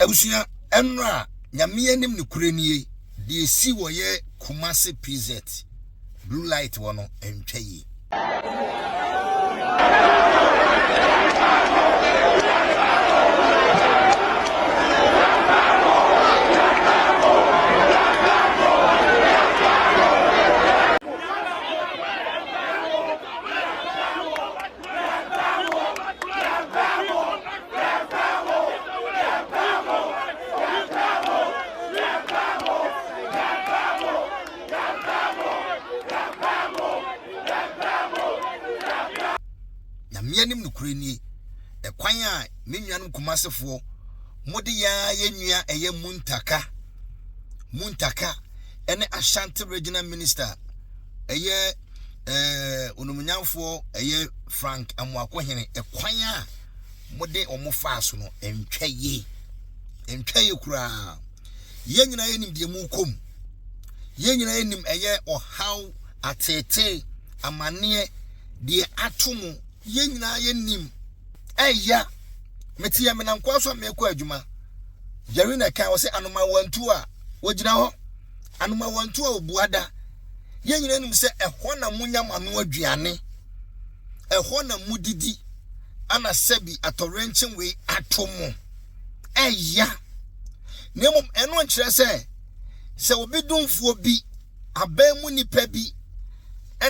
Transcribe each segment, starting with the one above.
Abusua, ɛnora a Nyame anim no korɛ nie, deɛ ɛsi wɔ yɛ Kumasi PZ, Blue Light hɔ no ɛntwa yie. nyameanim nokorɛ nie ɛkwan a me nuanom kumasefoɔ mode yɛa yɛ nua ɛyɛ muntaka muntaka ɛne ashanti regional minister ɛyɛ eh, onumnyamfoɔ ɛyɛ Frank Amoakohene ɛkwan a mode wɔn faa so no ntwa yie ntwa yie koraa yɛn nyinaa yɛnim deɛ mu kɔm yɛn nyinaa yɛnim ɛyɛ ɔhaw ateetee amanneɛ deɛ ato mu yɛn nyinaa yɛnim ɛya mete yɛ menankoa so a merekɔ adwuma jerry na ɛka wɔ sɛ anomawantu a wɔgyina hɔ anomawantu a ɔbuada Yɛn nyinaa nim sɛ ɛhɔ na monya mo ano aduane, ɛhɔ na modidi, ana sɛbi atɔwerɛnkye wei ato mo. Ɛya. Na mmom ɛno nkyerɛ sɛ sɛ obi domfoɔ bi abɛn mu nipa bi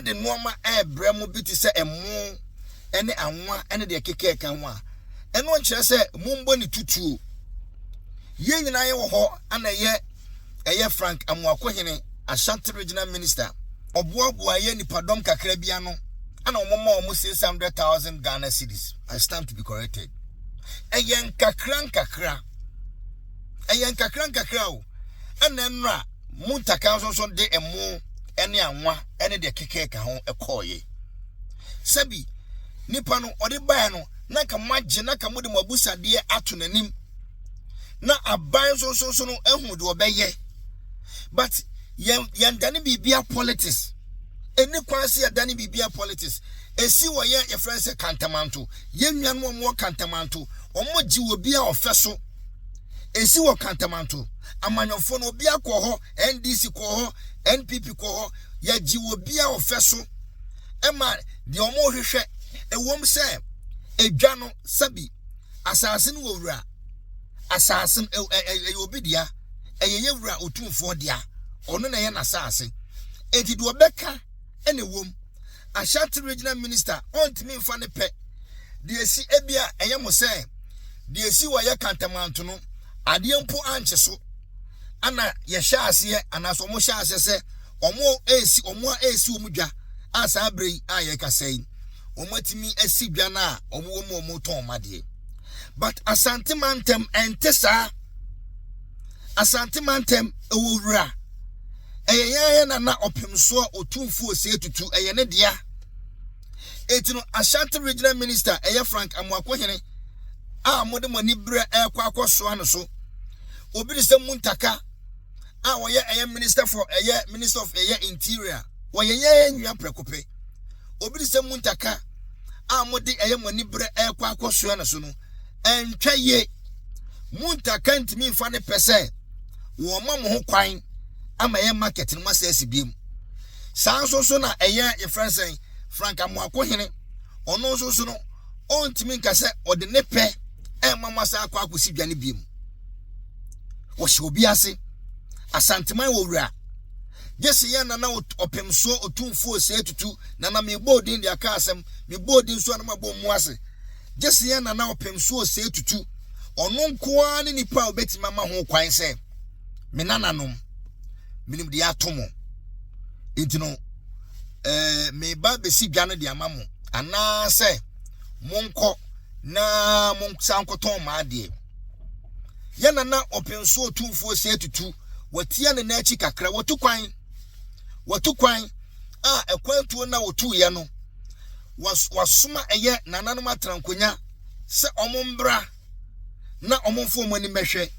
de nnoɔma ɛrebrɛ mo bi te sɛ ɛmo ne anwa ne deɛ kekɛ ka ho a ɛno nkyerɛ sɛ mombɔ ne tutuo yɛn nyinaa yɛwɔ hɔ ana yɛ ɛyɛ Frank Amoakohene, Ashanti Regional Minister, ɔboaboaeɛ nnipadɔm kakra bi ano ɛna wɔn ma wɔn 600,000 Ghana cedis. I stand to be corrected. Ɛyɛ nkakra nkakra. Ɛyɛ nkakra nkakra o. Ɛna nnora mu ntaka nso nso de ɛmo ɛne anwa ɛne deɛ kekɛ ka ho ɛkɔɔye. Sɛbi nipa no ɔde baeɛ no na nka mo agye na nka mo de mo abusadeɛ ato n'anim. na aban nso nso nso no ahu deɛ ɔbɛyɛ but yɛn yɛn dane biribia politics ɛni kwan se yɛdane biribia politics ɛsi wɔ yɛ yɛfrɛ no sɛ kantamanto yɛn nuanom wɔn wɔ kantamanto wɔn gye wɔ bi a ɔfɛ so ɛsi wɔ kantamanto amanyɔfoɔ no obi akɔ hɔ ndc kɔ hɔ npp kɔ hɔ yɛgye wɔ bi a ɔfɛ so ɛma deɛ wɔn rehwehwɛ ɛwɔm sɛ ɛdwa no sɛbi asase no wɔ wura, asase no ɛyɛ obi dea, ɛyɛ yɛ wura otumfoɔ dea, ɔno na ɛyɛ n'asase. Enti deɛ ɔbɛka ɛna ɛwom. Ashanti Regional Minister ɔntumi mfa ne pɛ deɛ esi ebi a ɛyɛ mo sɛ deɛ esi wɔ yɛ kantamanto no adeɛ mpo ankye so ana yɛhyɛ aseɛ anaasɛ wɔn hyɛ aseɛ sɛ wɔn esi wɔn a esi wɔn dwa a saa bere yi a yɛkasa yi. wɔn atumi asi dwa no a wɔn wɔ mu wɔn retɔn wɔn adeɛ but asante mantam ɛnte saa asante mantam ɛwɔ wura ɛyɛ yɛn ayɛ na na ɔpem soɔ otumfuo sɛ etutu ɛyɛ ne dea eti no ashanti regional minister ɛyɛ frank amuakohene a wɔde wɔn ani berɛ ɛrekɔ akɔsoa no so obi ne sɛ muntaka a wɔyɛ ɛyɛ minister for ɛyɛ minister of ɛyɛ interior wɔyɛ yɛn nua prɛko pɛ. Obi de sɛ mu ntaka a mode ɛyɛ mo ani berɛ ɛrekɔ akɔsoa no so no ɛntwa yie. Mu ntaka ntumi mfa ne pɛ sɛ wɔma mo ho kwan ama ɛyɛ market no masɛ asi biem. Saa nso so na ɛyɛ yɛfrɛ sɛn Frank Amoako hene ɔno nso so no ɔntumi nka sɛ ɔde ne pɛ ɛma mo asa akɔ akɔsi dwa no biem. Wɔhyɛ obi ase asanteman wɔ wura Gyese yɛn na na ot ɔpem soɔ otumfuo ose atutu na na mebɔ odin de aka asem, mebɔ odin nso a na mabɔ mmu ase. Gyese yɛn na na ɔpem soɔ ose atutu. Ɔno nko ara ne nipa a obetumi ama ho kwan sɛ, Me nananom, menim deɛ ato mo. Enti no, eh, meba besi dwa no de ama mo, anaasɛ monkɔ na monsan nkɔtɔn mo adeɛ. Yɛn nana ɔpenso otumfuo sɛ tutu wɔtia ne n'akyi kakra wɔtu kwan wɔtu kwan a ɛkwan tuo na wɔtu yɛ no wasoma ɛyɛ nananom atrankonya sɛ ɔmo mbra na ɔmo mfo ɔmo ani mɛhwɛ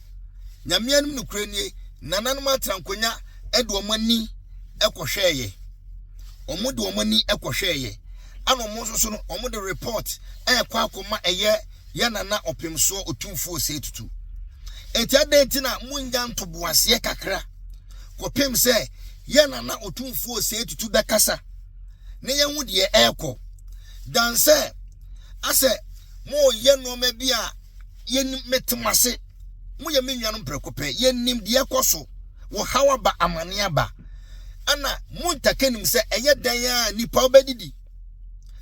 nyame anim no kura nie nananom atrankonya ɛde ɔmo ani ɛkɔhwɛɛ yɛ ɔmo de ɔmo ani ɛkɔhwɛɛ yɛ ɛna ɔmo nso so no ɔmo de report ɛɛkɔ akɔma ɛyɛ Yɛ na na Ɔpemsoɔ Otumfoɔ Osei Tutu. Enti adɛn nti na monnya ntoboaseɛ kakra kɔpem sɛ Yɛ na na Otumfoɔ Osei Tutu bɛkasa na yɛahu deɛ ɛrekɔ dan sɛ asɛ moyɛ nnoɔma bi a yɛnim mete mo ase moyɛ me nuanom prɛko pɛ yɛnim deɛ ɛkɔ so wɔ haw aba amane aba ɛna montaka nim sɛ ɛyɛ dan a nipa wobɛdidi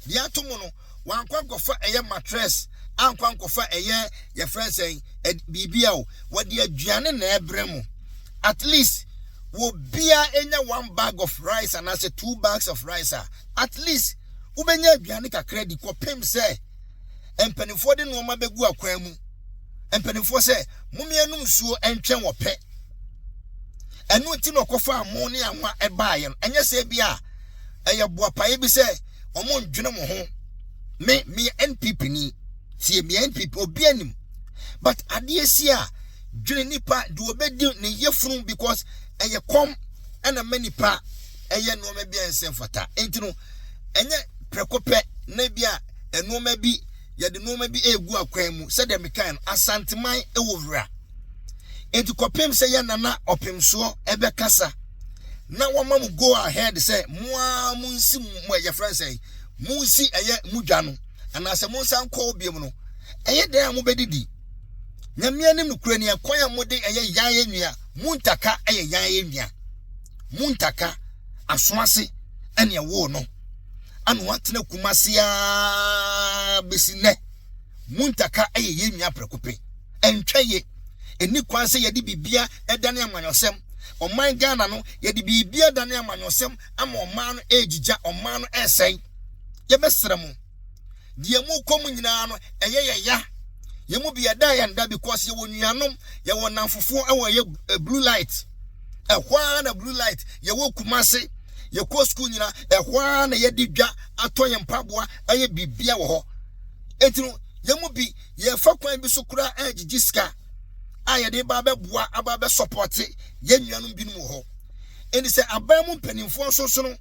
deɛ ato mo no wankɔ ankɔfa ɛyɛ mattress ankɔ ankɔfa ɛyɛ yɛfrɛ no sɛn ɛd- biribi a o wɔde aduane na ɛbrɛ mo at least wɔbia ɛnya one bag of rice anaasɛ two bags of rice a at least wobɛnya aduane kakra di kɔpem sɛ mpanimfoɔ de nnoɔma bɛgu akwan mu mpanimfoɔ sɛ momea nom nsuo ɛntwɛn ɔpɛ ɛno nti na ɔkɔfaa mo ne anwa ɛbaeɛ no ɛnyɛ sɛ bi a ɛyɛ boapaeɛ bi sɛ wɔn ndwene wɔn ho me meyɛ npp ni tie meyɛ npp obi anim but adeɛ si a dwene nipa de wɔbɛdi ne yɛfunu because ɛyɛ kɔm ɛna ma nipa ɛyɛ nneɛma bi a ɛnsɛ mfata nti no ɛnyɛ prɛko pɛ na bi a nneɛma bi yɛde nneɛma bi egu akwan mu sɛdeɛ mekan no asanteman ɛwɔ wura nti kɔpem sɛ yɛ nana ɔpemsoɔ ɛbɛkasa na wɔma mo go ahead sɛ mo ara mo nsi mo ɛyɛ fɛn sɛ mo nsi ɛyɛ mo dwa no anaasɛ mo nsa nkɔ obiam no ɛyɛ dɛn a mobɛdidi nyame anim no kura nea kwan a mode ɛyɛ yan yɛ nua mo ntaka ɛyɛ yan yɛ nua mo ntaka aso ase ɛne ɛwoo no ana watena kumase a bɛsi nnɛ mo ntaka ɛyɛ yɛ nua prɛko pɛ ɛntwa ye. Ɛnni kwan sɛ yɛde biribia ɛdane amanyɔsɛm. Ɔman Ghana no, yɛde biribia adane amanyɔsɛm ama ɔman no ɛregyigya, ɔman no ɛresɛe. Yɛbɛsrɛ mo, deɛ morekɔ mu nyinaa no, ɛyɛ yɛn ya. Yɛn mu bi ɛda a yɛn da because yɛwɔ nuanom, yɛwɔ nnamfofoɔ ɛwɔ ɛyɛ eh, Blue Light. Ɛhɔ ara na Blue Light, yɛwɔ Kumase, yɛkɔ sukuu nyina, ɛhɔ ara na yɛde dwa atɔ yɛn mpaboa ayɛ biribia wɔ hɔ. Enti no, yɛn mu bi yɛfa kwan bi so koraa angyegye sika a yɛde ba abɛboa aba abɛsɔpɔte yɛn nuanom binom wɔ hɔ ɛnti sɛ aban mu mpanimfoɔ nsonsono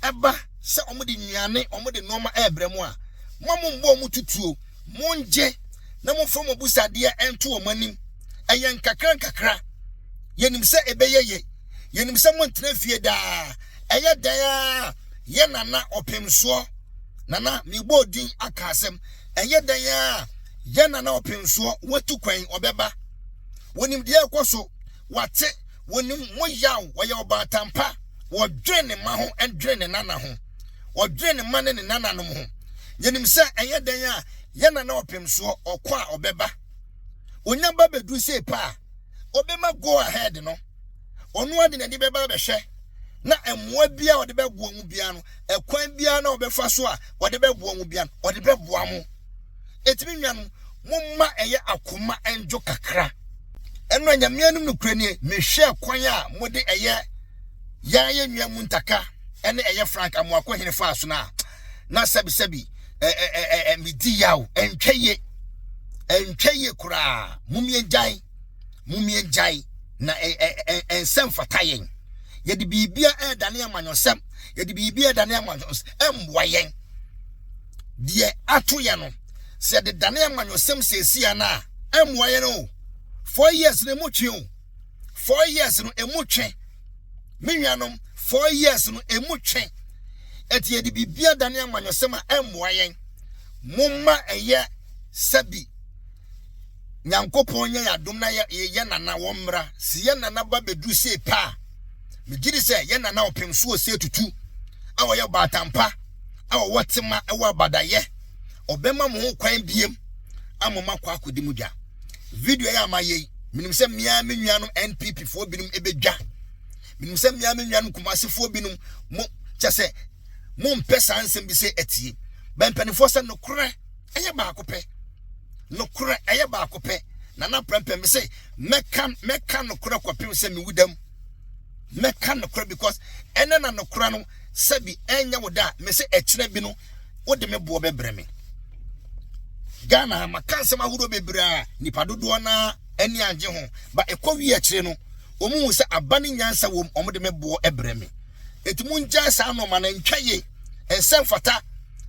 ɛba sɛ wɔde nnuane wɔde nneɛma ɛrebrɛ mu a mo a mombɔ wɔn tutuo mongye na momfa mo abusadeɛ ɛnto wɔn anim ɛyɛ nkakra nkakra yɛnim sɛ ɛbɛyɛ yɛ yɛnim sɛ montena fie daa ɛyɛ dɛn a yɛ nana ɔpemsoɔ nana mebɔɔ din aka asɛm Ɛyɛ dɛn ara a, yɛn na na ɔpem soɔ, watu kwan, ɔbɛba. Wɔnim deɛ ɛrekɔ so, wɔate, wɔnim mo yaw, wɔyɛ ɔbaatan pa, wɔdwene ne mma ho dwene ne nana ho, wɔdwene ne mma ne ne nananom ho. Yɛnim sɛ ɛyɛ dɛn a, yɛn na na ɔpem soɔ, ɔkɔ a ɔbɛba. Ɔnya ba bɛduru sei pɛ a, ɔbɛma go ahead no. Ɔno ara de n'ani bɛba abɛhwɛ na mmoa biara a ɔde bɛboa mu biara no, ɛkwan biara na ɔbɛfa so a ɔde bɛboa mu biara no, ɔde bɛboa mo. Enti me nuanom, momma ɛyɛ akoma ndwo kakra. Ɛno a Nyame anom no kura nie, mehwɛ kwan a mode ɛyɛ yɛn yɛn nua mu ntaka ɛne ɛyɛ Frank Amoako hene faa so no a, na sɛbisɛbi medi yaw, ɛntwa yie, ɛntwa yie koraa, mom yɛn gyan. Mom yɛgyae na ɛnsɛ mfata yɛn. Yɛde biribia ɛredane amanyɔsɛm. Yɛde biribia ɛredane amanyɔsɛm. Ɛmmoa yɛn. Deɛ ato yɛn no, sɛ yɛde dane amanyɔsɛm sɛsia no a, ɛmmoa yɛn o. Four years no ɛmu twe o. Four years no ɛmu twe. Me nuanom, four years no ɛmu twe. Ɛti yɛde biribia dane amanyɔsɛm a ɛmmoa yɛn. Momma ɛyɛ sɛbi Nyankopɔn nyɛ yɛn adom na yɛn nana wɔn mmra. Se yɛn nana ba bɛduru sei pɛ a, megye di sɛ yɛn nana ɔpem so wɔ sei tutu a wɔyɛ ɔbaatan pa a ɔwɔ tema wɔ abadayɛ. Ɔbɛma mo ho kwan biem ama mo akɔ akɔdi mo dwa. Video yi a mayɛ yi, menim sɛ me ara me nuanom NPP foɔ binom ɛbɛdwa. Menim sɛ me ara me nuanom Kumasi foɔ binom mo kyɛ sɛ mompɛ saa nsɛm bi sɛ atie. Bɛn mpanimfoɔ sɛ nokorɛ Ɛyɛ baako pɛ. Nokorɛ, ɛyɛ baako pɛ. Na na prɛmpɛ me se mɛka mɛka nokorɛ kɔpem sɛ mewu dam. Mɛka nokorɛ because ɛnɛ na nokorɛ no sɛbi ɛnyɛ wo da a me se ɛkyerɛ bi no wode me boɔ bɛbrɛ me. Ghana ha maka nsɛm ahodoɔ bebree a nipa dodoɔ no ara ani angye ho ba ɛkɔ wie akyire no wɔn hu sɛ aba ne nyansa wɔm wɔn de me boɔ brɛ me. Enti mongyae saa nnoɔma no, ntwa yie, ɛnsɛ mfata.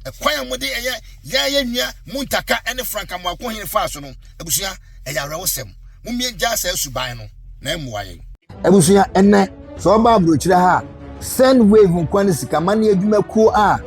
Ɛkwan a mode ɛyɛ yɛn yɛ nnua mu ntaka ne franka mmoako hene faa so no, abusua, ɛyɛ awerɛhosɛm. Mommie gyaa saa suban no, na ɛmmoa yɛn. Abusua, ɛnnɛ, sɛ wɔba aburokyire ha a, Send Wave nkoa ne sikamanneɛ adwuma kuo a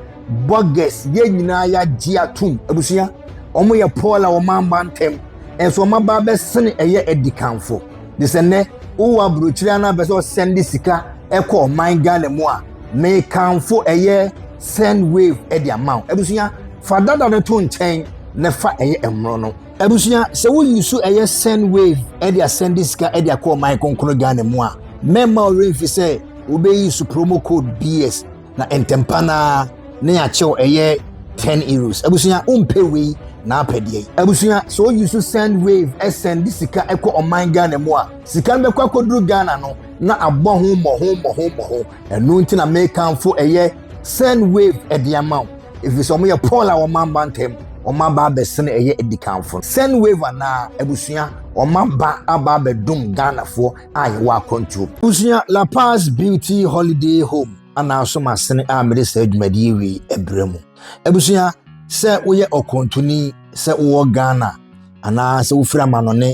Burgess yɛn nyinaa yɛagye atom. Abusua, wɔyɛ Paul a wɔn aba ntɛm, ɛnso wɔn aba abɛsene ɛyɛ adikanfo. Gye sɛ nnɛ wowɔ aburokyire anaa pɛ sɛ ɔsɛnde sika ɛkɔ ɔman Ghana mu a, mekamfo ɛyɛ send wave ɛde ama wo. Abusua, fa dada no to nkyɛn na fa ɛyɛ mmoro no. Abusua, sɛ woyi so ɛyɛ send wave ɛde asɛnde sika ɛde akɔ ɔman kronkron Ghana mu a, mɛma wo remfi sɛ wobɛyi so promo code BS Na ntɛmpa no ara ne yɛakyew ɛyɛ ten euros abusua wompɛ wei na apɛ deɛ yi abusua sɛ oyi so send wave ɛsɛn de sika ɛkɔ ɔman ghana mu a sika no bɛkɔ akɔduru ghana no na abɔ ho mmɔho mmɔho mmɔho ɛno nti na mekamfo ɛyɛ send wave ɛde ama wo ɛfiri sɛ wɔyɛ paul a wɔma mba ntam wɔma aba abɛsene ɛyɛ adikanfo send wave anaa abusua wɔma ba aba abɛdom ghanafoɔ a yɛwɔ akwantuo. Abusua La Paz Beauty Holiday Home ananso masene a mede saa dwumadie wei ɛbrɛ mu. Abusua, sɛ woyɛ ɔkwantuni, sɛ wowɔ Ghana anaa sɛ wofiri amanɔne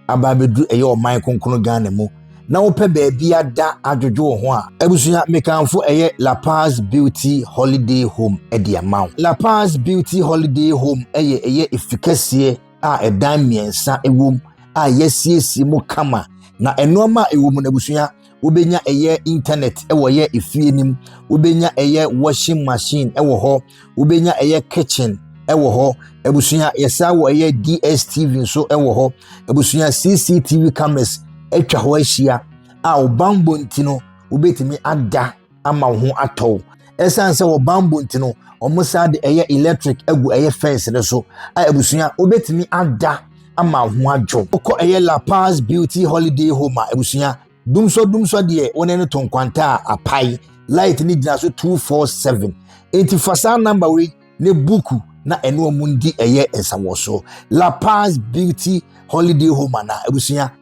aba abɛduru ɛyɛ ɔman konkono Ghana mu na wopɛ baabi ada adwodwo wo ho a, abusua mekanfo ɛyɛ La Paz Beauty Holiday Home ɛde ama wo. La Paz Beauty Holiday Home ɛyɛ ɛyɛ efikɛseɛ a ɛdan mmiɛnsa wom a yɛasiesie mu kama na nneɛma a ɛwɔ mu no abusua wobɛnya ɛyɛ internet wɔ yɛ efie no mu wobɛnya ɛyɛ washing machine wɔ hɔ wobɛnya ɛyɛ kitchen wɔ hɔ abusua yɛsa wɔ ɛyɛ dstv nso wɔ hɔ abusua cctv cameras atwa hɔ ahyia a ɔbanbɔ nti no wobɛtumi ada ama wo ho atɔ wo ɛsiane sɛ wɔ bambɔ nti no wɔn saa de ɛyɛ electric agu ɛyɛ fence no so a abusua wobɛtumi ada ama ho adwo wokɔ ɛyɛ la paz beauty holiday home a abusua dumsɔ dumsɔ deɛ wɔn ani to nkwanta a apae light ne gyina so 247 enti fa saa namba wei ne buku na ɛne wɔn di ɛyɛ nsawɔso la paz beauty holiday home ana abusua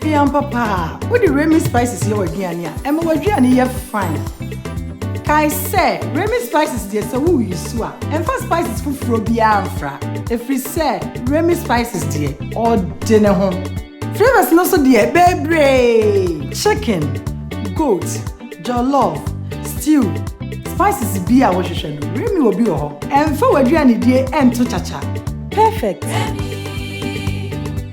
Hwɛ ampa paa, wode Remy spices yɛ w'aduane a, ɛma w'aduane yɛ fine. Kae sɛ, Remy spices deɛ sɛ woreyisu a, mfa spices foforɔ biara mfra, ɛfiri sɛ Remy spices deɛ, ɔde ne ho. Flavours no nso deɛ, bebree! Chicken, goat. jollof, stew, spices biaa a wohwehwɛ no, Remy wɔ bi wɔ hɔ. Ɛmfa w'aduanedie ɛnto kyakya. Perfect!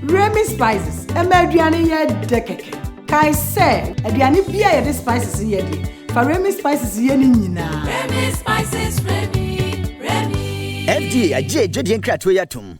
Remy Spices ɛma aduane yɛ dɛ kɛkɛ. Kae sɛ, aduane biaa a yɛde spices yɛ deɛ, fa Remy Spices yɛ ne nyinaa. Remy Spices, Remy, Remy. FDA agye adwadie nkratoɔ yi atom.